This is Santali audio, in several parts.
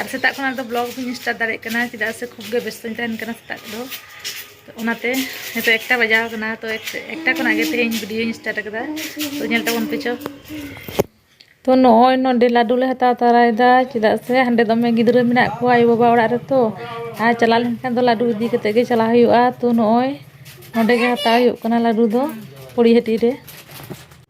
ᱟᱨ ᱥᱮᱛᱟᱜ ᱠᱷᱚᱱᱟᱜ ᱫᱚ ᱵᱞᱚᱜ ᱵᱟᱹᱧ ᱥᱴᱟᱨᱴ ᱫᱟᱲᱮᱭᱟᱜ ᱠᱟᱱᱟ ᱪᱮᱫᱟᱜ ᱥᱮ ᱠᱷᱩᱵ ᱜᱮ ᱵᱮᱥᱛᱚᱧ ᱛᱟᱦᱮᱱ ᱠᱟᱱᱟ ᱥᱮᱛᱟᱜ ᱫᱚ ᱚᱱᱟᱛᱮ ᱱᱤᱛᱚᱜ ᱮᱠᱴᱟ ᱵᱟᱡᱟᱣ ᱠᱟᱱᱟ ᱛᱚ ᱮᱠᱴᱟ ᱠᱷᱚᱱᱟᱜ ᱜᱮ ᱛᱮᱦᱮᱧ ᱵᱷᱤᱰᱤᱭᱳᱧ ᱥᱴᱟᱨᱴ ᱟᱠᱟᱫᱟ ᱛᱚ ᱧᱮᱞ ᱛᱟᱵᱚᱱ ᱯᱮ ᱪᱚ ᱛᱚ ᱱᱚᱜᱼᱚᱭ ᱱᱚᱰᱮ ᱞᱟᱹᱰᱩ ᱞᱮ ᱦᱟᱛᱟᱣ ᱛᱟᱨᱟᱭᱮᱫᱟ ᱪᱮᱫᱟᱜ ᱥᱮ ᱦᱟᱸᱰᱮ ᱫᱚᱢᱮ ᱜᱤᱫᱽᱨᱟᱹ ᱢᱮᱱᱟᱜ ᱠᱚᱣᱟ ᱟᱭᱳ ᱵᱟᱵᱟ ᱚᱲᱟᱜ ᱨᱮᱛᱚ ᱟᱨ ᱪᱟᱞᱟᱣ ᱞᱮᱱᱠᱷᱟᱱ ᱫᱚ ᱞᱟᱹᱰᱩ ᱤᱫᱤ ᱠᱟᱛᱮ ᱜᱮ ᱪᱟᱞᱟᱣ ᱦᱩᱭᱩᱜᱼᱟ ᱛᱚ ᱱᱚᱜᱼᱚᱭ ᱱᱚᱰᱮ ᱜᱮ ᱦᱟᱛᱟᱣ ᱦᱩᱭᱩᱜ ᱠᱟᱱᱟ ᱞᱟᱹᱰᱩ ᱫᱚ ᱯᱚᱲᱤᱦᱟᱹᱴᱤ ᱨᱮ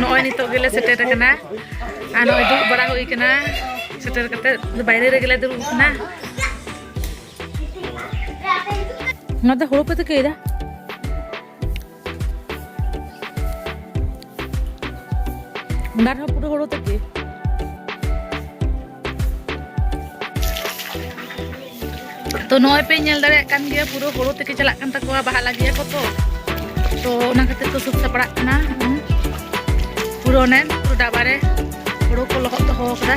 ᱱᱚᱜᱼᱚᱭ ᱱᱤᱛᱚᱜ ᱜᱮᱞᱮ ᱥᱮᱴᱮᱨ ᱟᱠᱟᱱᱟ ᱟᱨ ᱱᱚᱜᱼᱚᱭ ᱫᱩᱲᱩᱵ ᱵᱟᱲᱟ ᱦᱩᱭ ᱟᱠᱟᱱᱟ ᱥᱮᱴᱮᱨ ᱠᱟᱛᱮ ᱵᱟᱭᱨᱮ ᱨᱮᱜᱮᱞᱮ ᱫᱩᱲᱩᱵ ᱟᱠᱟᱱᱟ ᱱᱚᱣᱟ ᱫᱚ ᱦᱩᱲᱩ ᱯᱮ ᱛᱤᱠᱤᱭᱮᱫᱟ ᱫᱟᱨᱮ ᱦᱚᱸ ᱯᱩᱨᱟᱹ ᱦᱳᱲᱳ ᱛᱮᱜᱮ ᱛᱚ ᱱᱚᱜᱼᱚᱭ ᱯᱮ ᱧᱮᱞ ᱫᱟᱲᱮᱭᱟᱜ ᱠᱟᱱ ᱜᱮᱭᱟ ᱯᱩᱨᱟᱹ ᱦᱳᱲᱳ ᱛᱮᱜᱮ ᱪᱟᱞᱟᱜ ᱠᱟᱱ ᱛᱟᱠᱚᱣᱟ ᱵᱟᱦᱟ ᱞᱟᱹᱜᱤᱫ ᱟᱠᱚ ᱛᱚ ᱛᱚ ᱚᱱᱟ ᱠᱷᱟᱹᱛᱤᱨ ᱠᱚ ᱥᱟᱹᱛ ᱥᱟᱯᱲᱟᱜ ᱠᱟᱱᱟ ᱯᱩᱨᱟᱹ ᱚᱱᱮ ᱯᱩᱨᱟᱹ ᱰᱟᱵᱟᱨᱮ ᱦᱳᱲᱳ ᱠᱚ ᱞᱚᱦᱚᱫ ᱫᱚᱦᱚ ᱟᱠᱟᱫᱟ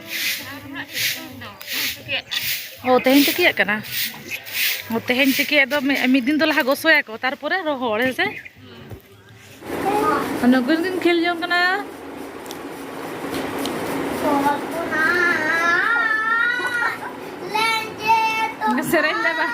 ᱚ ᱛᱮᱦᱮᱧ ᱛᱤᱠᱤᱭᱟᱜ ᱠᱟᱱᱟ ᱚ ᱛᱮᱦᱮᱧ ᱛᱤᱠᱤᱭᱟᱜ ᱫᱚ ᱢᱤᱫ ᱫᱤᱱ ᱫᱚ ᱞᱟᱦᱟ ᱜᱚᱥᱚᱭᱟᱠᱚ ᱛᱟᱨᱯᱚᱨᱮ ᱨᱚᱦᱚᱲ ᱦᱮᱸ ᱥᱮ ᱱᱩᱠᱤᱱ ᱠᱤᱱ ᱠᱷᱮᱞ ᱡᱚᱝ ᱠᱟᱱᱟ ᱥᱮᱨᱮᱧ ᱫᱟ ᱵᱟᱝ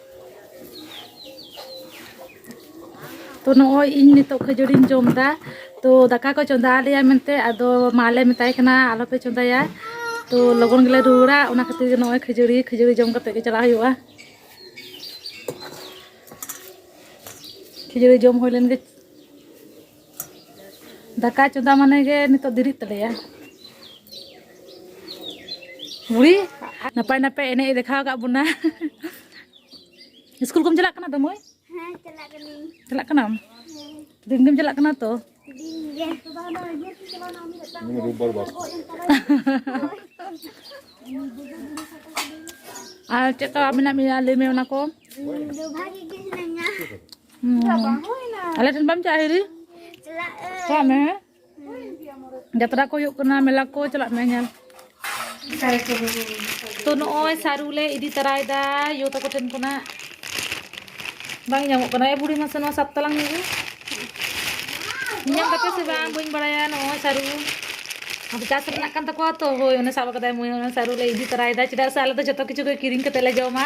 ᱛᱚ ᱱᱚᱜᱼᱚᱭ ᱤᱧ ᱱᱤᱛᱚᱜ ᱠᱷᱟᱹᱡᱟᱹᱲᱤᱧ ᱡᱚᱢ ᱮᱫᱟ ᱛᱚ ᱫᱟᱠᱟ ᱠᱚ ᱪᱚᱸᱫᱟ ᱟᱞᱮᱭᱟ ᱢᱮᱱᱛᱮ ᱟᱫᱚ ᱢᱟᱞᱮ ᱢᱮᱛᱟᱭ ᱠᱟᱱᱟ ᱟᱞᱚᱯᱮ ᱪᱚᱸᱫᱟᱭᱟ ᱛᱚ ᱞᱚᱜᱚᱱ ᱜᱮᱞᱮ ᱨᱩᱣᱟᱹᱲᱟ ᱚᱱᱟ ᱠᱷᱟᱹᱛᱤᱨ ᱜᱮ ᱱᱚᱜᱼᱚᱭ ᱠᱷᱟᱹᱡᱟᱹᱲᱤ ᱠᱷᱟᱹᱡᱟᱹᱲᱤ ᱡᱚᱢ ᱠᱟᱛᱮ ᱜᱮ ᱪᱟᱞᱟᱜ ᱦᱩᱭᱩᱜᱼᱟ ᱠᱷᱟᱹᱡᱟᱹᱲᱤ ᱡᱚᱢ ᱦᱩᱭ ᱞᱮᱱ ᱜᱮ ᱫᱟᱠᱟ ᱪᱚᱸᱫᱟ ᱢᱟᱱᱮ ᱜᱮ ᱱᱤᱛᱚᱜ ᱫᱮᱨᱤᱜ ᱛᱟᱞᱮᱭᱟ ᱵᱩᱲᱤ ᱱᱟᱯᱟᱭ ᱱᱟᱯᱟᱭ ᱮᱱᱮᱡ ᱫᱮᱠᱷᱟᱣ ᱠᱟᱜ ᱵᱚᱱᱟ ᱥᱠᱩᱞ ᱠᱚᱢ ᱪᱟᱞᱟᱜ ᱠᱟᱱᱟ ᱫᱚᱢᱚᱭ ᱦᱮᱸ ᱪᱟᱞᱟᱜ ᱠᱟᱹᱱᱟᱹᱧ ᱪᱟᱞᱟᱜ ᱠᱟᱱᱟᱢ ᱫᱤᱱ ᱜᱮᱢ ᱪᱟᱞᱟᱜ ᱠᱟᱱᱟ ᱛᱚ ᱫᱤᱱ ᱜᱮ ᱨᱳᱵবার বার ᱟᱨ ᱪᱮᱫ ᱞᱮᱠᱟ ᱢᱮᱱᱟᱜ ᱢᱮᱭᱟ ᱞᱟᱹᱭ ᱢᱮ ᱚᱱᱟ ᱠᱚ ᱵᱷᱟᱜᱮ ᱜᱮ ᱦᱤᱱᱟᱹᱧᱟ ᱟᱞᱮ ᱴᱷᱮᱱ ᱵᱟᱢ ᱪᱟᱞᱟᱜᱼᱟ ᱦᱤᱨᱤ ᱪᱟᱞᱟᱜ ᱢᱮ ᱡᱟᱛᱨᱟ ᱠᱚ ᱦᱩᱭᱩᱜ ᱠᱟᱱᱟ ᱢᱮᱞᱟ ᱠᱚ ᱪᱟᱞᱟᱜ ᱢᱮ ᱧᱮᱞ ᱛᱚ ᱱᱚᱜᱼᱚᱭ ᱥᱟᱹᱨᱩ ᱞᱮ ᱤᱫᱤ ᱛᱟᱨᱟᱭᱮᱫᱟ ᱭᱳ ᱛᱟᱠᱚ ᱴᱷᱮᱱ ᱠᱷᱚᱱᱟᱜ ᱵᱟᱝ ᱧᱟᱢᱚᱜ ᱠᱟᱱᱟ ᱮ ᱵᱩᱲᱤ ᱢᱟᱥᱮ ᱱᱚᱣᱟ ᱥᱟᱵ ᱛᱟᱞᱟᱝ ᱢᱮ ᱧᱟᱢ ᱠᱟᱛᱮ ᱥᱮ ᱵᱟᱝ ᱵᱟᱹᱧ ᱵᱟᱲᱟᱭᱟ ᱱᱚᱜᱼᱚᱭ ᱥᱟᱹᱨᱩ ᱟᱫᱚ ᱪᱟᱥ ᱨᱮᱱᱟᱜ ᱠᱟᱱ ᱛᱟᱠᱚᱣᱟ ᱛᱚ ᱦᱳᱭ ᱚᱱᱮ ᱥᱟᱵ ᱠᱟᱫᱟᱭ ᱢᱟᱹᱭ ᱚᱱᱟ ᱥᱟᱹᱨᱩ ᱞᱮ ᱤᱫᱤ ᱛᱟᱨᱟᱭᱮᱫᱟ ᱪᱮᱫᱟᱜ ᱥᱮ ᱟᱞᱮ ᱫᱚ ᱡᱚᱛᱚ ᱠᱤᱪᱷᱩ ᱜᱮ ᱠᱤᱨᱤᱧ ᱠᱟᱛᱮ ᱞᱮ ᱡᱚᱢᱟ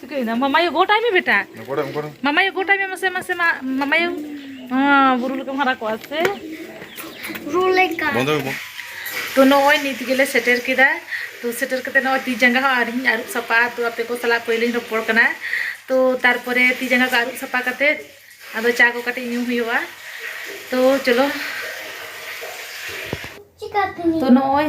ᱪᱤᱠᱟᱹᱭᱮᱱᱟ ᱢᱟᱢᱟᱭᱩ ᱜᱚᱴᱟᱭ ᱢᱮ ᱵᱮᱴᱟ ᱢᱟᱢᱟᱭᱩ ᱜᱚᱴᱟᱭ ᱢᱮ ᱢᱟᱥᱮ ᱢᱟᱥᱮ ᱢᱟ ᱢᱟᱢᱟᱭᱩ ᱵᱩᱨᱩ ᱞᱮᱠᱟᱢ ᱦᱟᱨᱟ ᱠᱚᱜᱼᱟ ᱥᱮ ᱵᱩᱨᱩ ᱞᱮᱠᱟ ᱛᱚ ᱱᱚᱜᱼᱚᱭ ᱱᱤᱛ ᱜᱮᱞᱮ ᱥᱮᱴᱮᱨ ᱠᱮᱫᱟ ᱛᱚ ᱥᱮᱴᱮᱨ ᱠᱟᱛᱮ ᱱᱚᱜᱼᱚᱭ ᱛᱤ ᱡᱟᱸᱜᱟ ᱦᱚᱸ ᱟᱹᱣᱨᱤᱧ ᱟᱹᱨᱩᱵ ᱥᱟᱯᱷᱟ ᱛᱚ ᱟᱯᱮ ᱠᱚ ᱥᱟᱞᱟᱜ ᱯᱳᱭᱞᱳᱧ ᱨᱚᱯᱚᱲ ᱠᱟᱱᱟ ᱛᱚ ᱛᱟᱨᱯᱚᱨᱮ ᱛᱤ ᱡᱟᱸᱜᱟ ᱠᱚ ᱟᱹᱨᱩᱵ ᱥᱟᱯᱷᱟ ᱠᱟᱛᱮ ᱟᱫᱚ ᱪᱟ ᱠᱚ ᱠᱟᱹᱴᱤᱡ ᱧᱩ ᱦᱩᱭᱩᱜᱼᱟ ᱛᱚ ᱪᱚᱞᱚ ᱛᱚ ᱱᱚᱜᱼᱚᱭ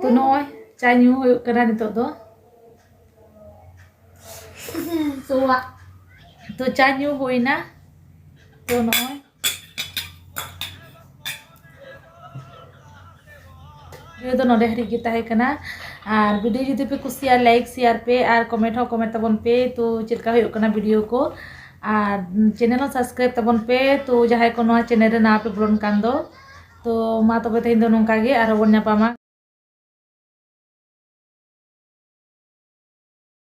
ᱛᱚ ᱱᱚᱜᱼᱚᱭ ᱪᱟ ᱧᱩ ᱦᱩᱭᱩᱜ ᱠᱟᱱᱟ ᱱᱤᱛᱚᱜ ᱫᱚ ᱥᱚᱣᱟᱜ ᱛᱚ ᱪᱟ ᱧᱩ ᱦᱩᱭᱱᱟ ᱛᱚ ᱱᱚᱜᱼᱚᱭ ᱵᱷᱤᱰᱤᱭᱳ ᱫᱚ ᱱᱚᱰᱮ ᱦᱟᱹᱨᱤᱡ ᱜᱮ ᱛᱟᱦᱮᱸ ᱠᱟᱱᱟ ᱟᱨ ᱵᱷᱤᱰᱤᱭᱳ ᱡᱩᱫᱤ ᱯᱮ ᱠᱩᱥᱤᱭᱟᱜᱼᱟ ᱞᱟᱭᱤᱠ ᱥᱮᱭᱟᱨ ᱯᱮ ᱟᱨ ᱠᱚᱢᱮᱱᱴ ᱦᱚᱸ ᱠᱚᱢᱮᱱᱴ ᱛᱟᱵᱚᱱ ᱯᱮ ᱛᱚ ᱪᱮᱫ ᱞᱮᱠᱟ ᱦᱩᱭᱩᱜ ᱠᱟᱱᱟ ᱵᱷᱤᱰᱤᱭᱳ ᱠᱚ ᱟᱨ ᱪᱮᱱᱮᱞ ᱦᱚᱸ ᱥᱟᱵᱥᱠᱨᱟᱭᱤᱵ ᱛᱟᱵᱚᱱ ᱯᱮ ᱛᱚ ᱡᱟᱦᱟᱸᱭ ᱠᱚ ᱱᱚᱣᱟ ᱪᱮᱱᱮᱞ ᱨᱮ ᱱᱟᱣᱟ ᱯᱮ ᱵᱚᱞᱚᱱ ᱠᱟᱱ ᱫᱚ ᱛᱚ ᱢᱟ ᱛᱚᱵᱮ ᱛᱮᱦᱮᱧ ᱫᱚ ᱱᱚᱝᱠᱟ ᱜᱮ ᱟᱨᱦᱚᱸ ᱵᱚᱱ ᱧᱟᱯᱟᱢᱟ᱾